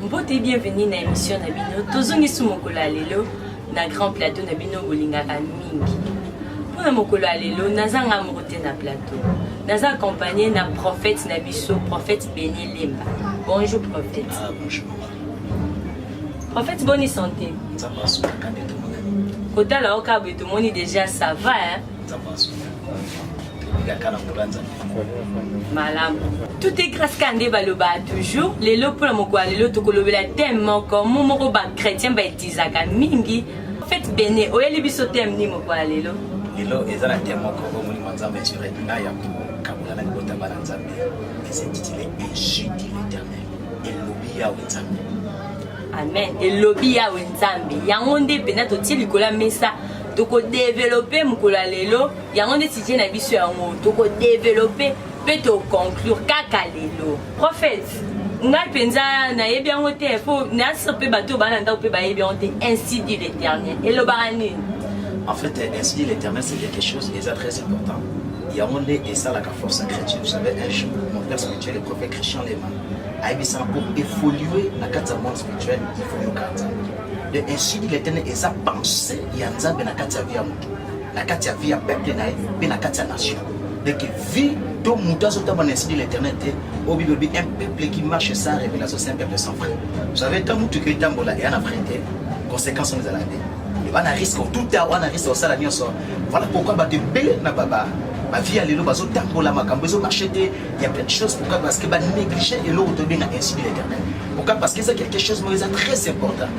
mbote bienvenue na émission na bino tozongisi mokolo ya lelo na grand plateau na bino bolingaka mingi mpo na mokolo ya lelo nazanga moko te na plateau naza accompagne na prophète na biso prophète beni lemba bonjour prophète ah, bonjour. prophète boni santé kotala oyo kaboye tomoni déjà ça va hein? malamu tout est grâce ka nde balobaa toujours lelo mpona mokolo ya lelo tokolobela teme moko mo moko bachrétien baetilizaka mingi fete bene oyeli biso teme nini mokolo ya lelo lelo eza na teme moko oyo molimo ya nzambe asure na ya kokabola na libota bana nzambe esintitile injure de l'éternel elobi yawe nzambe amen elobi yawe nzambe yango nde mpenza totie likolo ya mesa tokodevelope mokolo ya lelo yango nde sujet na biso yango tokodevelope mpe toconclure kaka lelo prophète ngai mpenza nayebi yango te mpo nayasir mpe bato oyo baa na ndako mpe bayebi yango te ainsi dit l'éternel elobaka nini en fait euh, ainsi dit l'éternel c'est quelque chose eza très important yango nde esalaka force ya chrétien vous savez un jour mon père spirituel le prophète christian lema ayebisaka pour évoluer na kati ya monde spirituel il faut yoka nzambe de ainsi dit l'éternel eza pensée ya nzambe na kati ya vie ya na kati ya vie ya peuple na ye mpe na kati ya nation deke vie to moto azotamba na esprit l'éternel te oyo bible elobi un peuple qui marche sans révélation c'est un peuple sans vrai vous savez ntango motuka etambola eya na vrai te conséquence wana ezalaka te wana risque otuta wana risque osala nyonso voilà pourquoi bato ebele na baba bavie ya lelo bazotambola makambo ezomarche te ya plein de choses pourquoi parce que banéglige eloko tobenga esprit l'éternel pourquoi parce que eza quelque chose moko eza très important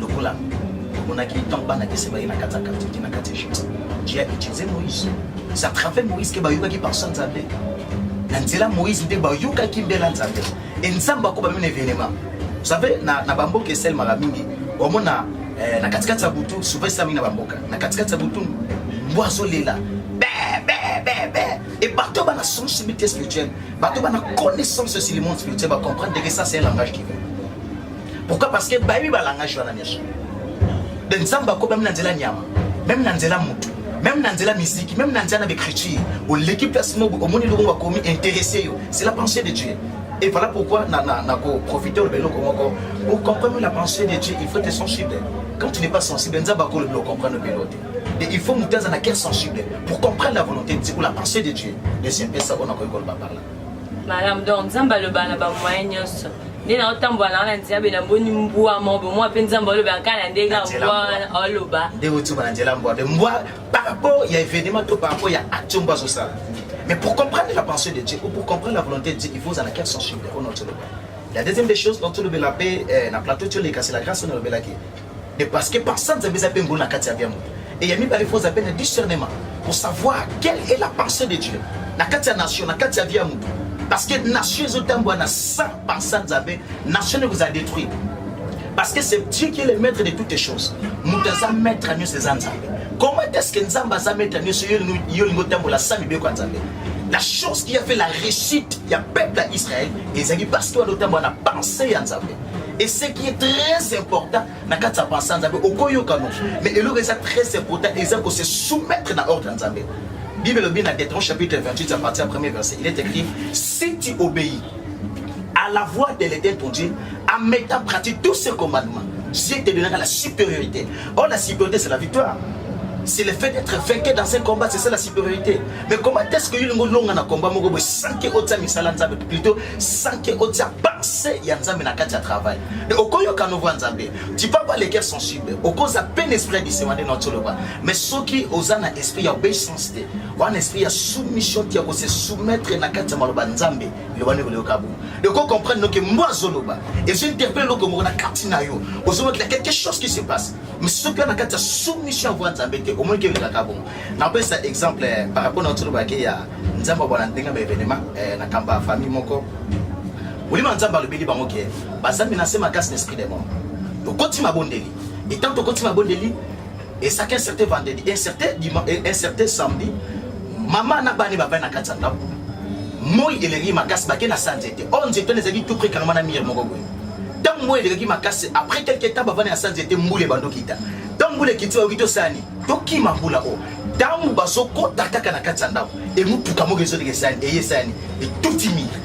lokola omonaki ntango bana kese baye na kati ya katiki na kati ya egypte je a utilise moïse sa travers moïse ke bayokaki parsa nzambe na nzela moïse nde bayokaki mbela nzambe e nzambe akoba mino evenema vous savez na, na bamboka esalemaka mingi omona eh, na katikati ya butu souvent esala mingi na bamboka na katikati ya butu mbwa azolela et bato bana sensibilité spirituelle bato bana connaissance sur le monde spirituel bacomprendre que ça c'est un langage qui veut Pourquoi? Parce que bayebi ba langage wana nyonso. De Nzambe akoba mimi na nzela nyama, meme na nzela mutu, meme na nzela miziki, meme na nzela na écriture. Oleki place moko omoni eloko bakomi intéressé yo. C'est la pensée de Dieu. Et voilà pourquoi na na na ko profiter le beloko moko. Pour comprendre la pensée de Dieu, il faut être sensible. Quand tu n'es pas sensible, Nzambe akolo le comprendre beloko. Et il faut mutu aza na cœur sensible pour comprendre la volonté de Dieu ou la pensée de Dieu. Deuxième pesa on a ko par là. Malamu donc Nzambe aloba na ba moyen nyonso. Nde na otambola na wana nzela be na boni mbwa mo bo mwa pe Nzambe aloba kaka na ndenge mbwa wana oloba. Nde otuba na nzela mbwa be mbwa par rapport ya événement to par rapport ya action mbwa zo sala. Mais pour comprendre la pensée de Dieu ou pour comprendre la volonté de Dieu, il faut avoir quelle sensibilité au nom de Dieu. La deuxième des choses dont tu le la paix, eh, na plateau tu le c'est la grâce on le qui de parce que pensa nzambe eza mpe ngolu na kati ya bia moto et ya mibale faut appelle discernement pour savoir quelle est la pensée de dieu na kati ya nation na kati ya vie ya moto parce que nation ezotambwa na sans pensa nzambe nation ekozala détruire parce que c'est dieu qui est le maître de toutes les choses moto aza maître ya nyonso eza nzambe comment est-ce que nzambe aza maître ya nyonso yo olingi otambola sa mibeko ya nzambe la chose qui a fait la réussite ya peuple ya israël ezalaki parce que wana otambola na pensée ya nzambe et ce qui est très important na kati ya pensa nzambe okoyoka no mais eloko eza très important eza ko se soumettre na ordre ya nzambe bible elobi na detron chapitre 28 à partir ya premier verset il est écrit si tu obéis à la voix de l'éternel ton dieu en mettant pratique tous ses commandements dieu te donnera la supériorité or la supériorité c'est la victoire c'est le fait d'être vainqué dans un combat c'est ça la supériorité mais comment est-ce que yo lingo longa na combat moko boye sans que otia misala nzambe plutôt sans que otia pensée ya nzambe na kati ya travail okoyoka nouveau ya nzambe tu peux avoir le cœur sensible okoza pe na esprit ya disema nde naotoloba mais soki oza na esprit ya obeissance te wana esprit ya soumission te ya kose soumettre na kati ya maloba nzambe loba nde koleyoka bongo de ko comprendre noke mbo azoloba ezo interpelle eloko moko na kati na yo ozolokela quelque chose qui se passe mais soki na kati ya soumission ya voix nzambe te omonike elekaka bongo napesa exemple eh, par rapport na otolobake ya nzambe abwana ndenge ya baevenema eh, na kamba ya famille moko molimo ya nzambe alobeli bango ke bazambi na se makasi na esprit de mort tokoti mabondeli etango tokoti mabondeli esaki inserte vendredi inserte eh, samedi mama na bani bavai na kati ya ndako moi eleki makasi bake na sa nzete oyo nzete wana ezalaki tout près kangama na mire moko boye ntango moi elekaki makasi après quelque temps bavani na sa nzete mbula ebandokita ntango mbula ekiti oyoki tosani tokima mbula oyo ntango bazokota kaka na kati ya ndako emotuka moko ezoleka esani eye esani etuti mire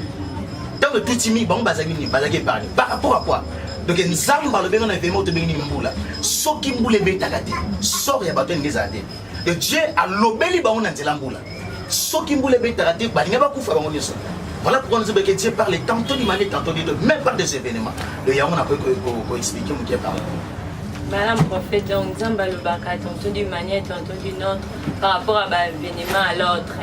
ntango etuti mire bango bazalaki nini bazalaki epargne par rapport à quoi donc nzambe alobi ngo na evema oyo tobengi nini mbula soki mbula ebetaka te sor ya bato elingi ezala te donc dieu alobeli bango na nzela mbula soki mbula ebetaka te balinga bakufa bango nyonso Voilà pourquoi nous avons que Dieu parle tantôt du mal et tantôt du deux, même par des événements. Le Yahweh n'a pas expliqué mon Dieu parle. Madame prophète, donc Nzambe alobaka tantôt d'une manière, tantôt d'une autre, par rapport à ba événement à l'autre.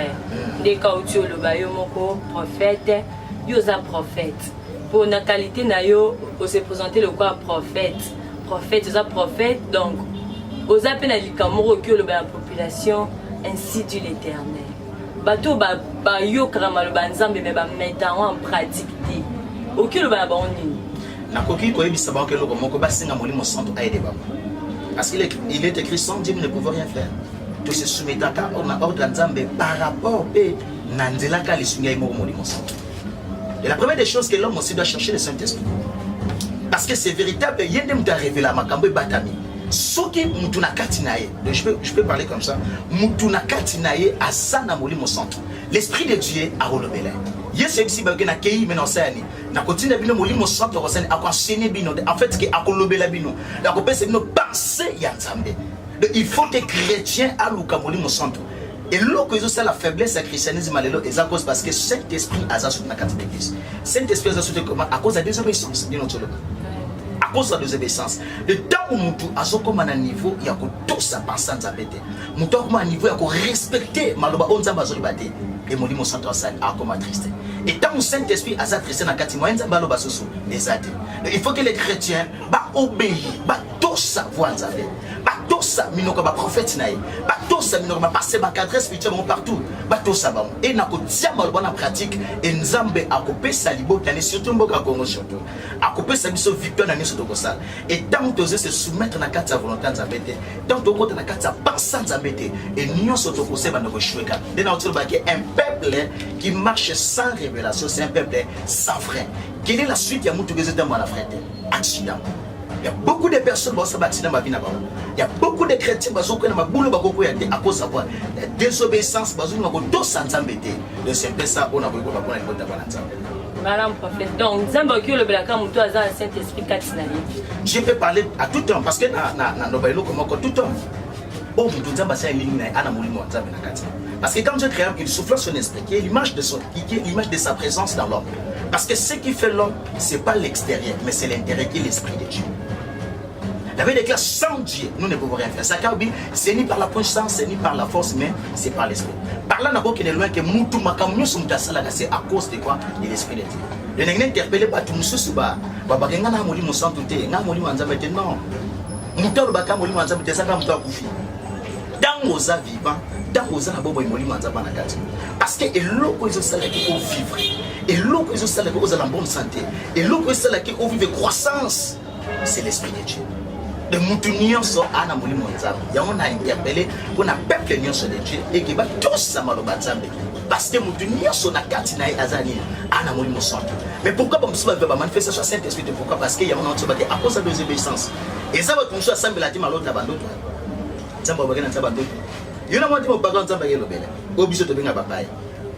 Nde kauti oloba yo moko prophète, yo oza prophète. Mpo na qualité na yo, ose présenter lokola prophète. Prophète, oza prophète, donc oza mpe na likambo moko oki oloba ya population, ainsi dit l'éternel. Bato bayokaka maloba ya Nzambe, me bameta yango en pratique te. Oki oloba na bango nini? Nakoki koyebisa bango eloko moko, basenga Molimo Santu aide bango. Parce qu'il est, il est écrit sans Dieu ne pouvait rien faire. To se soumettaka na ordre ya Nzambe par rapport pe na nzela ka lisungi ya moko Molimo Santu. Et la première des choses que l'homme aussi doit chercher le Saint-Esprit. Parce que c'est véritable, il y a des gens révélé makambo batami. Soki mutu na kati na ye, je peux je peux parler comme ça. Mutu na kati na ye asana Molimo Santu. L'esprit de Dieu a rolobela. Yesu ebisi ba ke na kei mais na osani. nakotinda bino molimo santu akosani akoenseigne bino en fait ke akolobela bino nakopesa bino pensée ya nzambe donc il faut que chrétien aluka molimo santu eloko ezosala faiblesse ya christianisme ya lelo eza cause parce que saint esprit aza soki na kati ya eglise saint esprit aza soki koma à cause ya désobéissance bino toloba à cause ya désobéissance le ntango motu azokoma na niveau ya kotosa pensa nzambe te moto akoma niveau ya korespecte maloba oyo nzambe azoloba te e molimo santo asali akoma triste e ntango saint esprit aza triste na kati moye nzambe aloba susu eza te il faut que les chrétiens baobéi batosa voi nzambe batosa minoko ya baprofete na ye batosa minoko bapase bacadre spirituel bango partout batosa bango e na kotia maloba na pratique e nzambe akopesa libota ne surtout mboka congo surtout akopesa biso victoire na nyonso tokosala Et tant que tu se soumettre na kati ya volonté ya Nzambe te, tant que okota na kati ya pensée ya Nzambe te, et nyonso tokoseba na koshweka. Nde na otilo baki un peuple qui marche sans révélation, c'est un peuple sans frein. Quelle est la suite ya mutu kezo tembo na frein te? Accident. Il y a beaucoup de personnes qui ont accident ma vie na bango. Il y a beaucoup de chrétiens qui ont ma boule ba koko ya te à cause de quoi? La désobéissance bazo na ko to sanzambe te. Donc c'est ça on a ko ko ba ko na ko ta ba na Madame prophète, donc Nzambe oki olobelaka moto aza na Saint Esprit kati na ye. Je peux parler à tout temps parce que na na na loba eloko moko tout temps. Oh moto Nzambe asali elingi na ye ana molimo ya Nzambe na kati. Parce que quand Dieu créa il souffla son esprit qui est l'image de son qui est l'image de sa présence dans l'homme. Parce que ce qui fait l'homme, c'est pas l'extérieur, mais c'est l'intérieur qui est l'esprit de Dieu. David déclare sans Dieu, nous ne pouvons rien faire. Sakabi, c'est ni par la puissance, c'est ni par la force, mais c'est par l'esprit. Par là, nako kene loin que mutu makamyo sumta salaka, c'est à cause de quoi De l'esprit de Dieu. Le nengene interpellé ba tu mususu ba, ba ba kenga na molimo santu te, na molimo nzambe te, non. Mutu alobaka molimo nzambe te, saka mutu akufi. Tango oza vivant, tango oza na bobo molimo nzambe na kati. Parce que eloko ezo sala ki ko vivre. Eloko ezo sala ki ozala bonne santé. Eloko ezo sala ki ko vivre croissance. c'est le spirituel de mutu nyonso a na molimo ya nzambe yango na interpele mpo na peuple nyonso de dieu eke batosa maloba nzambe parce que mutu nyonso na kati na ye aza nini a na molimo santu mais pourquoi bamosusu bape bamanifestation ya saint esprit te pourquoi parce que yango naotiso bake akosa desobéissance eza bato mosusu asambela te malota ya bandoto nzambe abake na nzambe bandoto yo na mwa te mobaka nzambe akelobela oyo biso tobenga bapaya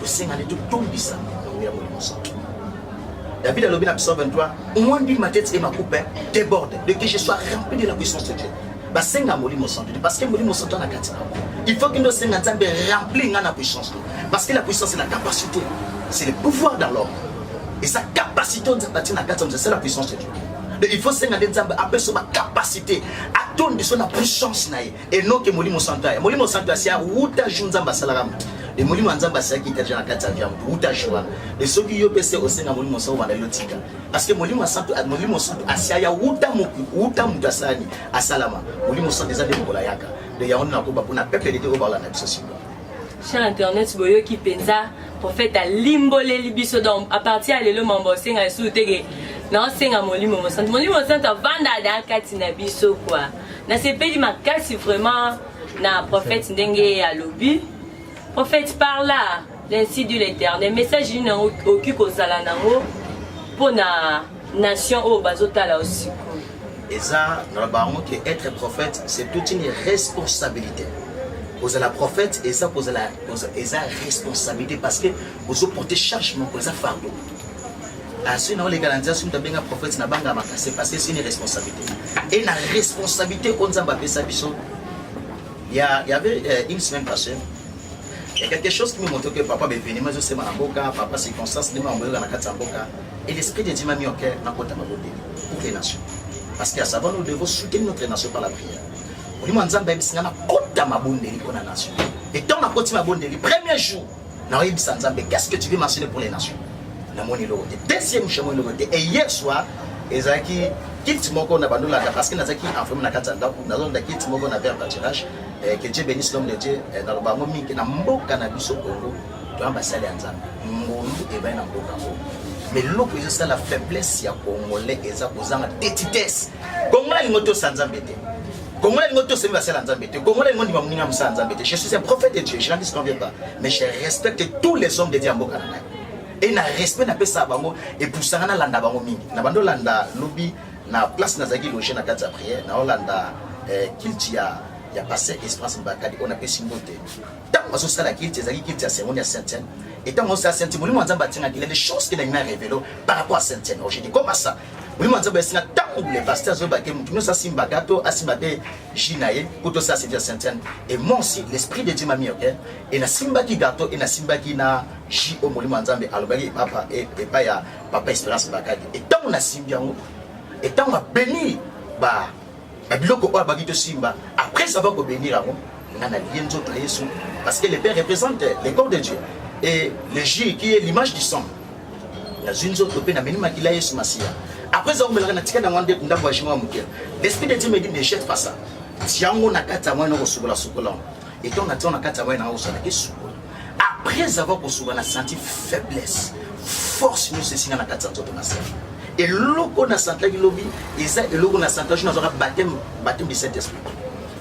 tosengani totondisa bango ya molimo santu David alobi na psaume 23 moi nul ma tête et ma coupe déborde de que je sois rempli de la puissance de Dieu basenga molimo santu te parce que molimo santu ana kati na bango il faut kende osenga nzambe rempli nga na puissance to parce que la puissance c'est la capacité c'est le pouvoir dans l'homme et sa capacité oyo nzambe atie na kati ya mozali c'est la puissance de Dieu il faut senga nde nzambe apesa ba capacité atondisa na puissance na ye enoke molimo santo aya molimo santo asi awuta ju nzambe asalaka yango e molimo ya nzambe asalaki etaja na kati ya vya moto wuta ju wana e soki yo mpe se osenga molimo santo obanda yo tika parceke molimo santo molimo santo asi aya wuta wuta moto asalani asalama molimo santo eza nde mokola yaka de yango nde nakoba mpona peuple dete oyo baolanda biso sikoyo cher internet boyoki mpenza prophète alimboleli biso donc à partir ya lelo mambo osenga lisusu teke naosenga molimo mosantu molimo mosantu avanda ada kati na biso kua nasepeli makasi vraiment na prophète ndenge alobi prophète par là l'ainsi du l'éternel message nini yango okoki kozala nango mpo na nation oyo bazotala yo sikoyo eza na bango ke être prophète c'est toute une responsabilité kozala prophète eza kozala eza responsabilité parce que ozoporte charge moko eza fardo asui na oleka na nzela soki moto abenga prophète na banga makase parce que c'est une responsabilité et na responsabilité oyo nzambe apesa biso ya yavait euh, une semaine passée ya quelque chose qui me montre que papa baevenema ezosema na mboka papa circonstance ndenge mamoyoka na kati ya mboka et l'esprit de dieu m'a mis au cœur nakota mabondeli pour les nations parce que à savoir nous devons soutenir notre nation par la prière molimo ya nzambe ayebisi ngai nakota mabondeli mpo na nation etant nakoti mabondeli premier jour nakoyebisa nzambe qu'est ce que tu veux mentionner pour les nations namoni eloko te deuxième chamon eloko te et hier soir ezalaki kiti moko na bandolaka parce que nazalaki enferme na kati ya ndako nazolanda kiti moko na verre batirage eh, que dieu bénisse l'homme de dieu eh, naloba yango mingi na mboka na biso kongo toya basali ya nzambe ngolu ebali na mboka yango mais eloko ezosala faiblesse ya congolais eza kozanga tetitesse kongo alingo tosa nzambe te Congolais alingi otosa mpe basala nzambe te Congolais alingi ondima moninga mosala nzambe te je suis un prophète de Dieu je n'en disconviens pas mais je respecte tous les hommes de Dieu ya mboka na ngai et na respect napesaka bango epusanga nalanda bango mingi na bando olanda lobi na place nazalaki loge na kati ya prière na olanda eh, kilti ya ya pasteur Esperance Mbakadi oyo napesi mbote ntango azosala kilti ezalaki kilti ya seconde ya Saint-Seine et ntango azosala Saint-Seine molimo ya Nzambe atingaki les choses qu'il a mis à révéler par rapport à Saint-Seine aujourd'hui comment ça Vraiment nzambe asinga ntango le pasteur azoyeba te moto nyonso asimbaka to asimba te ji na ye mpo tosala service ya saintiane et moi aussi l'esprit de dieu mami oke e nasimbaki gato e nasimbaki na ji oyo molimo ya nzambe alobaki papa epai ya papa esperance bakaki e ntango nasimbi yango e ntango abeni ba na biloko oyo abaki tosimba après avoir kobenir yango nga nalie nzoto ya yesu parce que le père représente le corps de dieu et le jus qui est l'image du sang nazwi nzoto mpe namemi makila ya yesu masiya après eza komelaka natika nango nde ndambo ya jimo ya moke l'esprit de dieu me dit ne jette pas ça tiango na kati yango ena kosukolasukola etant natia na kati ya mai na ngai osalaki esukola après avoir kosuka na senti faiblesse force nyonso esinga na kati ya nzoto na sali eloko na sentaki lobi eza eloko na sentaki jour nazwaka bateme bateme du saint esprit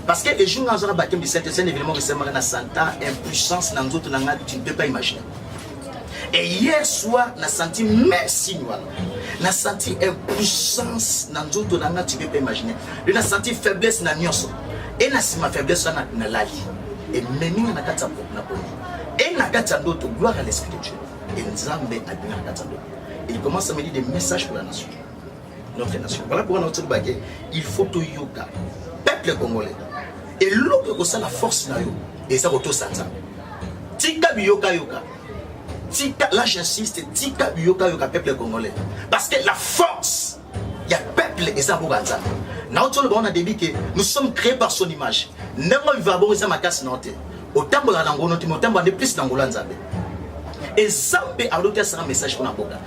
parce que le jour nazwaka bateme du saint esprit un événement esemaka na senta impuissance na nzoto na ngai tu ne peux pas imaginer Et hier soir, na senti même signe wana. Na senti impuissance na nzoto na nga, tu peux pas imaginer. Et na senti faiblesse na nyonso. Et na sima faiblesse wana na lali. Et memi nga na kati ya na poni. Et na kati ya ndoto, gloire à l'esprit de Dieu. Et Nzambe abina na kati ya ndoto. Il commence à me dire des messages pour la nation. notre nation voilà pourquoi notre bake il faut to yoka peuple congolais et l'autre que ça la force na yo et ça auto ça tika biyoka yoka tika là j'insiste tika biyoka yoka peuple congolais parce que la force il y a peuple et ça pour ça na autre le on a dit que nous sommes créés par son image n'importe quoi va bon ça ma casse note otambola na ngono timotambo ande plus na ngola nzambe ezambe aloki asala message mpona mboka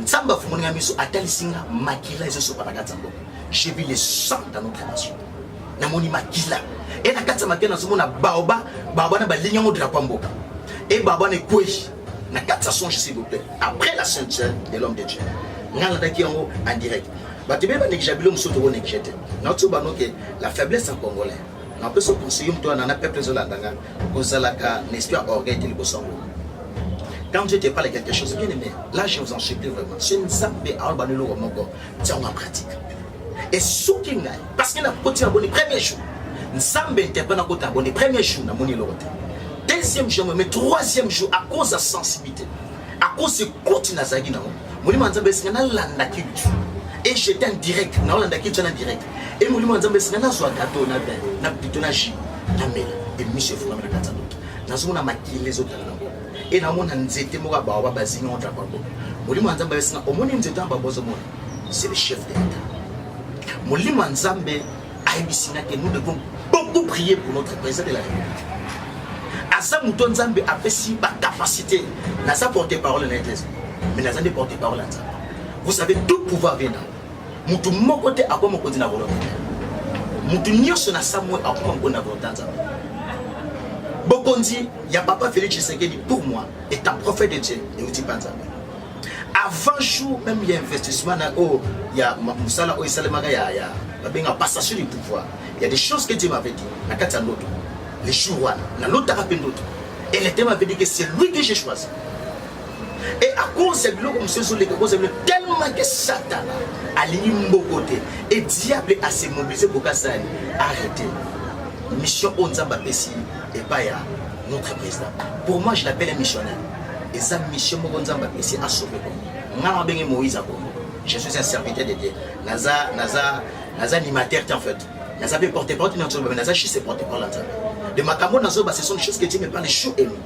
nzambe afungoli nga miso atalisi nga makila ezosopa na kati ya mboka j'ai vu le sang dans notre nation namoni makila e na kati ya makila nazomona baoba baoba na balingi yango drapo ya mboka e baoba na ekwei na kati ya songe s'il vous plaît après la sainte sœur de l'homme de dieu nga nalandaki yango en direct bato ebele banekija bilo mosusu tokonekija te naotiyo banoke la faiblesse ya congolais Na peso conseiller mtu ana na peuple zo landa nga kozalaka na esprit ya orgueil te liboso yango. Quand Dieu te parle quelque chose, bien aimé, là je vous en supplie vraiment, c'est une zambe à alba nilo moko, tiens en pratique. Et soki ngai, parce que na koti na boni premier jour, nzambe interprète na kota boni premier jour na moni lokote. Deuxième jour, mais troisième jour à cause de sensibilité, à cause de koti na zagi na moko. molimo ya nzambe esinga nalanda culture et j'étais en direct naolanda culture na direct et molimo ya nzambe esinga nazwa gato na vin na pito na jus na mela et miso efungami na kati ya ndoto nazomona makili ezotala nango et namona nzete moko ya baoba bazingi entre bango molimo ya nzambe esinga omoni nzete ya babozo mona c'est le chef de l'état molimo ya nzambe ayebisi nga ke nous devons beaucoup prier pour notre président de la république aza moto nzambe apesi bacapacité naza porte parole na eglise mais naza nde porte parole ya nzambe vous savez tout pouvoir vient na motu moko te akwa mokonzi na volonté motu nyonso na samwe akoma mokonzi na volonté ya nzambe bokonzi ya papa félix tshisekedi pour moi est un prophète de dieu euti mpa nzambe avant jour même ya investissement na oyo ya mosala oyo esalemaka ya ya babenga passation du pouvoir ya des choses que Dieu m'avait dit na kati ya ndoto le jour wana nalotaka mpe ndoto et le thème m'avait dit que c'est lui que j'ai choisi et à cause ya biloko mosusu ezoleka cause ya biloko tellement que satana alingi mboko te et diable ase mobilise bokasani arrete mission oyo nzambe apesi epai ya notre président pour moi je l'appelle un missionnaire eza mission moko nzambe apesi asauve kongo ngai nabenge moïse ya kongo je suis un serviteur de dieu naza naza naza animateur te en fait naza mpe porte parole na nzoloba me naza juste porte parole ya nzambe de makambo nazoba ce sont des choses que dieu me parle jour et nuit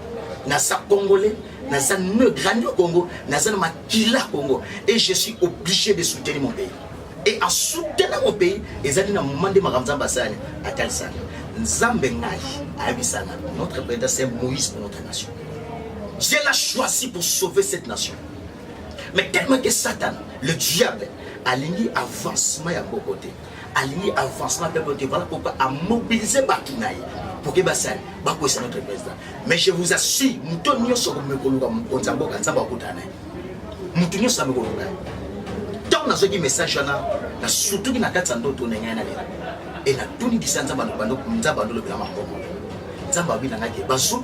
naza congolais naza ne grandi au congo naza na makila congo et je suis obligé de soutenir mon pays et en soutenant mon pays ezali na moment nde makambo nzambe asala atalisaka nzambe ngai ayebisana notre président c'est moïse pour notre nation Dieu l'a choisi pour sauver cette nation. Mais tellement que Satan, le diable, a alingi avancement ya boko te. Alingi avancement ya boko te. Voilà pourquoi a mobilisé Bakinaï pour que basali bakwesa notre président. Mais je vous assure, moto nyonso komekoluka mokonzi ya mboka nzambe akutana naye. Moto nyonso amekoluka ye. Ntango nazwaki message wana, na surtout na kati ya ndoto na ngai na lela. Et natuni kisa nzambe alobanda nzambe alobela maboko. Nzambe abinangaki bazulu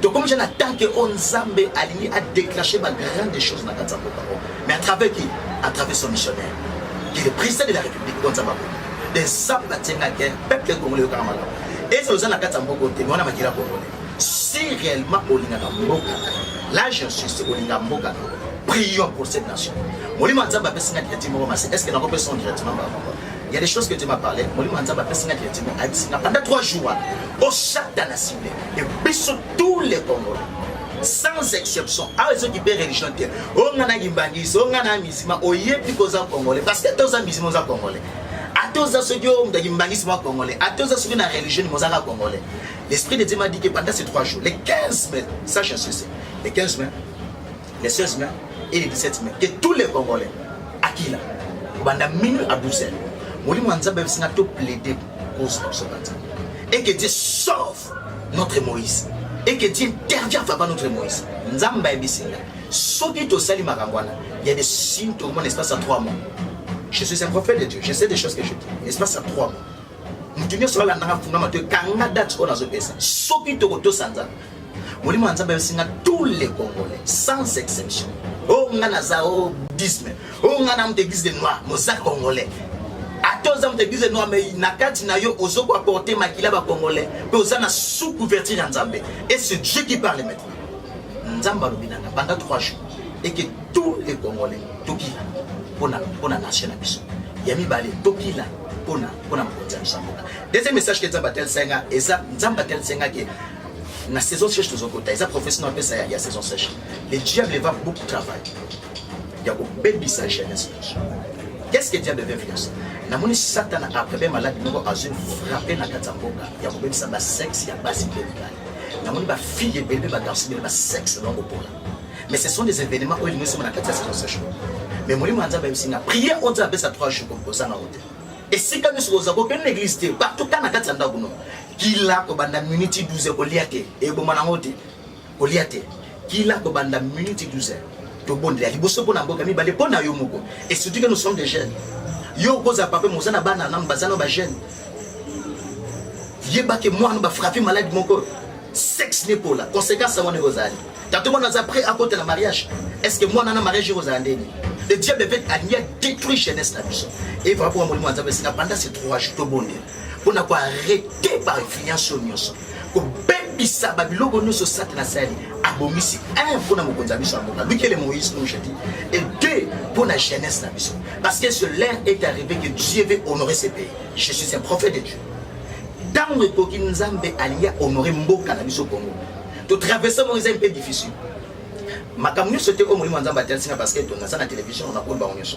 tokomi ja na temps ke oyo nzambe alingi adeclenche ba grande chose na kati ya mboka oyo mais à travers qui à travers son missionnaire qui est le président de la république oyo nzambe akoni de nzambe atyengaki peuple congolais yokaka makambo ezala oza na kati ya mboka oyo te mais wana makila congolais si réellement olingaka mboka là je suis olinga mboka na prions pour cette nation molimo ya nzambe apesi nga directives moko masi est ce que nakopesa directement bango Il y a des choses que Dieu m'a parlé. Molimo ya Nzambe apesi nga directement ayebisi nga pendant 3 jours wana oshata na cible et biso tous les Congolais sans exception awa ezoki mpe religion te oyo nga na kimbangisi oyo nga na misima oyebi ko oza congolais parce que ata oza misima oza congolais ata oza soki oyo moto akimbangisi mwa congolais ata oza soki na religion nimo ozaka congolais l'esprit de Dieu m'a dit que pendant ces 3 jours les 15 mai ça j'insiste les 15 mai le 16 mai et le 17 mai que tous les congolais akila kobanda minuit à 12 heures molimo ya nzambe ayebisinga to plaide cause na biso na nzambe et que dieu sauve notre moïse et que dieu intervient vraiment notre moïse nzambe ayebisinga soki tosali makambo wana ya de signe tokomona espace ya 3 mois je suis un prophète de dieu je sais des choses que je dis espace ya 3 mois moto nyonso alandanga fungama to ekanga date oyo nazopesa soki tokotosa nzambe molimo ya nzambe ayosinga tous les congolais sans exception o oh, nga naza o oh, disme o oh, nga na moto église de noir moza congolais ata oza moto église de noir mai na kati na yo ozo koaporte makila bacongolais mpe oza na sous couverture ya nzambe et ce dieu qui parle maintenant nzambe alobi na nga banda 3 jours et que tous les congolais tokila mpo na nation na biso ya mibale tokila mpona mpona mokonzi ya biso mboka deuxième message ke nzambe atalisaki nga eza nzambe atalisaki nga ke na saison sèche tozokota eza professeur na apesa ya saison sèche le diable va beaucoup travail ya kobebisa jeunesse qu'est-ce que diable veut faire namoni satana après be maladi moko azwi frappe na kati ya mboka ya kobebisa basexe ya basi mpe mibali namoni bafille ebele mpe bagarsi bele basexe bango mpola mais ce sont des événements oyo elingi soma na kati ya saison sèche mais molimo ya nzambe ayebisi nga prière oyo nzambe apesa 3 jours kozanga ote esika nyonso kozala kokende na église te partout ka na kati ya ndako no kila kobanda miniti 12 kolia te eboma nango te kolia te kila kobanda miniti 12 tobondela liboso mpo na mboka mibale mpo na yo moko et surtout que nous sommes des jeunes yo okozala papa moza na bana nanu baza na bajeune yebake mwana bafrape maladi moko sexe nekola conséquence yango ndenge ozali tato mwana aza prêt akota na mariage est ce que mwana na mariage ekozala ndenge le diable peut alingi a détruit jeunesse na biso evra mpo ya molimo ya nzambe esika banda se 3 jours tobondela mpo na koarete bainfluence oyo nyonso kobebisa babiloko nyonso satana asali abongisi un mpo na mokonzi ya biso ya mboka lukele moïse comme je dis et deux mpo na jeunesse na biso parce que ce l'heure est arrivé que dieu veut honorer ce pays je suis un prophète de dieu ntango ekoki nzambe alingi ahonore mboka na biso congo totraverse moko eza mpe difficile makambo nyonso te oyo molimo ya nzambe atalisika parce que tonaza na télévision na koni bango nyonso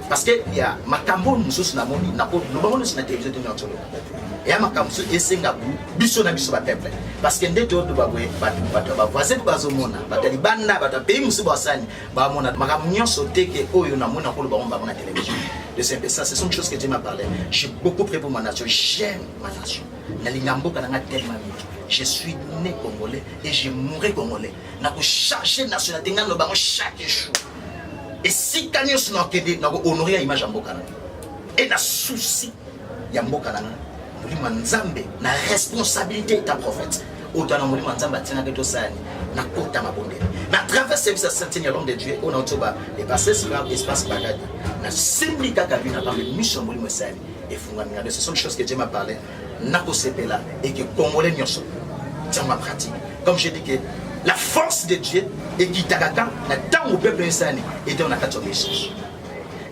parce que ya makambo mosusu na moni na ko loba moni na télévision tena tsolo ya makambo mosusu esenga bu biso na biso ba peuple parce que nde to ba boye ba ba ba voisin ba zo mona ba taliban na ba ta pays mosusu ba sani ba mona makambo nyonso te ke oyo na mona ko loba mona ba na télévision de simple ça ce sont des choses que tu m'as parlé j'ai beaucoup pris pour ma nation j'aime ma nation na linga mboka na nga tellement mingi je suis né congolais et je mourrai congolais na ko chercher nationalité nga loba ngo chaque jour esika nyonso nakende nako honore ya image ya mboka na e na souci ya mboka na ngai molimo ya nzambe na responsabilité ta prophète oyo tana molimo ya nzambe atinaki tosani nakota mabondeli na travers service ya saintine ya l'homme de dieu oyo nauti ba epasse sila espace bagadi nasimbi kaka bino na pambe miso ya molimo esali efungami na biso soki chose que dieu m'a parle nakosepela et que congolais nyonso tiango pratique comme je dis que la force de dieu ekitaka kaka na ntango peuple esani ete na kati ya obéissance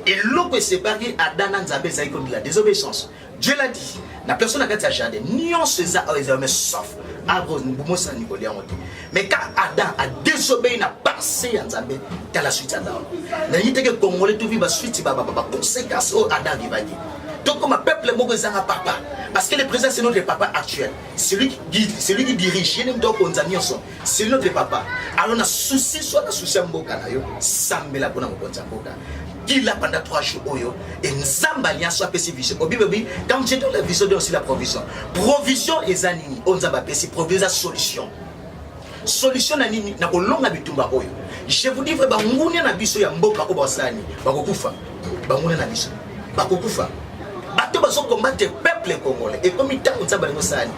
eloko esepaki ada na nzambe ezalaki kodi la désobéissance dieu l'a dit na personne na kati ya jardin nyonso eza oyo ezala mais sauf arbre bomosani kolia yango te mais ka adam a désobéi na pensée ya nzambe tala suite ya nzambe nayebi teke congolais tovi basuite baconséquence oyo adam akibaki tokoma peuple moko ezanga papa parce que le président c'est notre papa actuel celui qui guide celui qui dirige ye nde moto akonza nyonso c'est notre papa alors na souci soit na souci ya mboka na yo sambela mpona mokonzi ya mboka qui là pendant trois jours oyo et nzambe alliance apesi vision obibi obi quand j'ai donné la vision de aussi la provision provision eza nini oyo nzambe apesi provision eza solution solution na nini na kolonga bitumba oyo je vous dis vrai bangunia na biso ya mboka oyo basani bakokufa bangunia na biso bakokufa bato bazokombate peuple congolais ekomi ntango nzambe alingi osani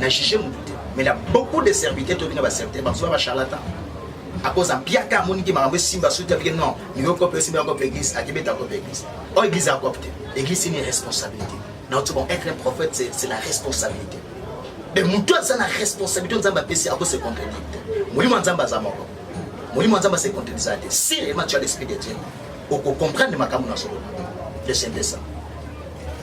na juge mutu te mais na beaucoup de serviteurs toyebi na baserviteur bazoya bacharlatan akoza mpiaka amoniki makambo esimba suti abike non niyo kope esimba yango mpe église akebeta yango mpe église oyo église ya kope te église ni responsabilité na oti bon être un prophète c'est la responsabilité me motu aza na responsabilité nzambe apesi ako se contredire te molimo ya nzambe aza moko molimo ya nzambe ase contredisaka te si réellement tu as l'esprit de dieu okocomprendre makambo na solo le saint de ça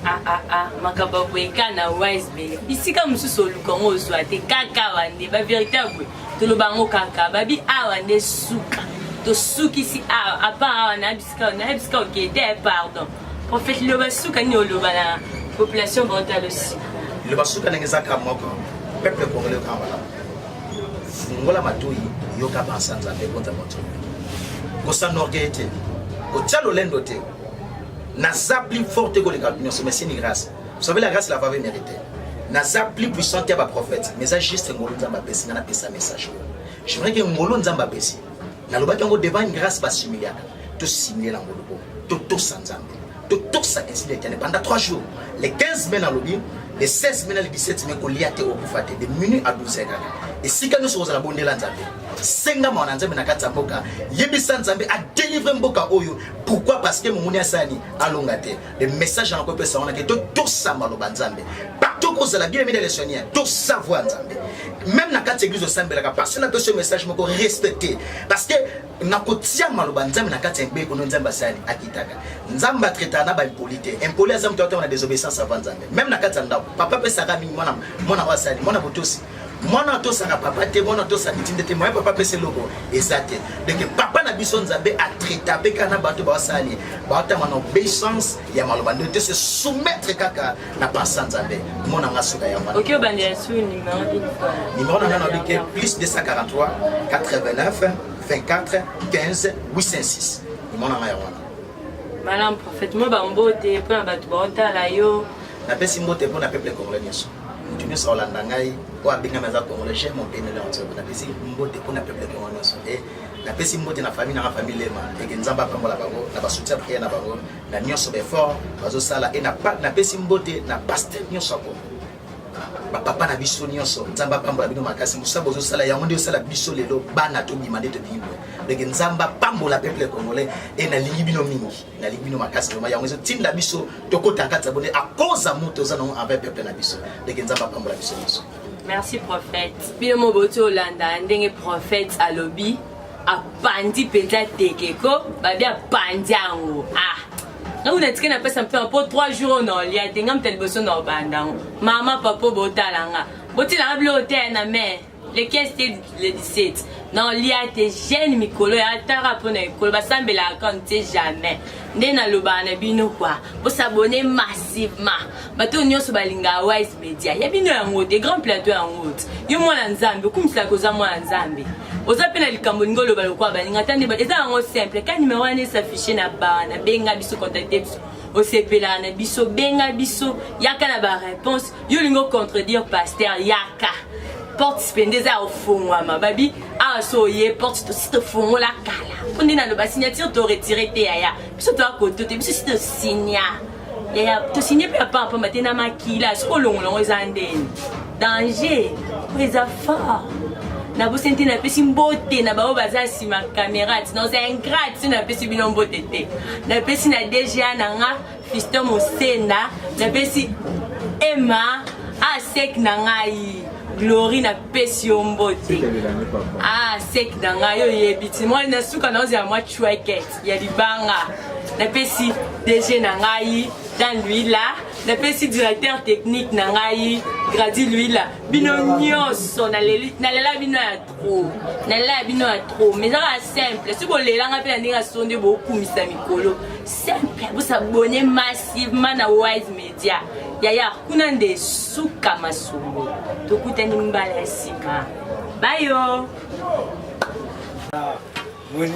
Ah, ah, ah. makambo ya boye kaka na wisbe bisika mosusu oluka yango ozwa te kaka awa nde baverité ya boye toloba yango kaka babi awa nde suka tosukisi awa apart awa na bisika na bisika oke te eh, pardon prophète loba suka nini oloba na population bortalosi loba suka ndenge eza kaka moko peuple congolais kaka malamu fungola matoyi yoka bansa nzambe konza moto kosanorgeye te kotya lolendo te naza plus fort te koleka bato nyonso mais sini grâce vous savez la grâce la vave mérité naza plus puissant te ya baprophète mais eza juste ngolu nzambe apesi nga napesa message oyo je voudrais ke ngolu nzambe apesi nalobaki yango devant une grâce basimiliaka tosimile na ngolu oyo totosa nzambe totosa esili etene pendant 3 jours les 15 mai nalobi le 16 mai na le 17 mai kolia te okufa te de minute à 12 kaka esika nyonso kozala bondela nzambe senga mawa na nzambe na kati ya mboka yebisa nzambe adelivre mboka oyo pourquoi parce que momoni asani alonga te le message yango epesa wana ke totosa maloba nzambe partout kozala bien mide lesonien tosa voi nzambe même na kati église osambelaka parce na pesi message moko respecte parce que na kotia maloba nzambe na kati ya mbeko no nzambe asali akitaka nzambe atraitaka na baimpoli te impoli aza moto atanga na désobéissance avant nzambe même na kati ya ndako papa apesaka mingi mwana mwana oyo asali mwana botosi mwana atosaka papa te mwana atosa mitinda te moye papa apesa eloko eza te donc papa na biso nzambe atraita mpe kaka na bato basali baotama na obeissance ya maloba nde te se soumettre kaka na pensa nzambe mona nga suka ya mwana nimero na nga nabike plus 243 89 24 15 806 nimero na nga ya wana malam prophète mo bambote mpo na bato baotala yo napesi mbote mpo na peuple congolais nyonso mutu nyonso akolanda ngai oyo abengami aza congolais chef mopene leonso napesi mbote mpo na peuple kongo nyonso e napesi mbote na famille nanga famille lema eke nzambe apambola bango na basoutien priere na bango na nyonso baeffort bazosala e napesi mbote na paster nyonso ya kongo bapapa na biso nyonso nzambe apambola bino makasi mosala bozosala yango nde osala biso lelo bana tobima nde tobimi boye ndenge nzambe apambola peuple congolais e nalingi bino mingi nalingi bino makasi vraimen yango ezotinda biso tokota kati ya bone akoza moto oza nango envers peuple na biso ndenge nzambe apambola biso nyonso merci prophète bino mo boti olanda ndenge prophète alobi apandi mpenza tekeko babi apandi yango ah ntango natiki napesa mpema mpo 3 jours oyo naolia te ngai moto ya liboso na obanda yango mama papa botala nga botilanga biloko te na mai le 15 te le 17 naolia te jeune mikolo ya tara mpo na ekolo basambelaka kano te jamais nde nalobaka na bino kua bosabone massivement bato oyo nyonso balingaka wise media ya bino yango te grand plateau yango te yo mwana nzambe okumiselaka oza mwana nzambe oza mpe na likambo olingi oloba lokola baninga ata nde eza yango simple ka nimero wana esaffiche na baa na benga biso contacte biso osepelaka na biso benga biso yaka na bareponse yo olingi ocontredire paster yaka porte sipende eza ya ofongwama babi awa ah, so oye porte tosi tofongola kala mpo nde naloba signature toretire te yaya biso toya koto te biso si tosinya yaya tosigne mpe ya pampamba te na makila soki olongola yango eza ndeni danger oyo eza fort nabosani te napesi mbote na baoyo baza nsima kamera ti naoza ingrate so napesi bino mbote te napesi na dga na nga Fiston Mosenda napesi Emma a sek na ngai glory napesi yo mbote ah sek na ngai yo oyebi ti mwana na suka naozela mwa chueket ya libanga napesi dg na ngai dan luila napesi directeur technique na ngai gradi luila bino nyonso nalela bino ya trop nalela ya bino ya trop mais ezaka simple soki bolelanga mpe na ndenge ya sonde bokumisa mikolo simple bosabone massivement na wise media yaya kuna nde suka masolo tokutani mbala ya nsima bayo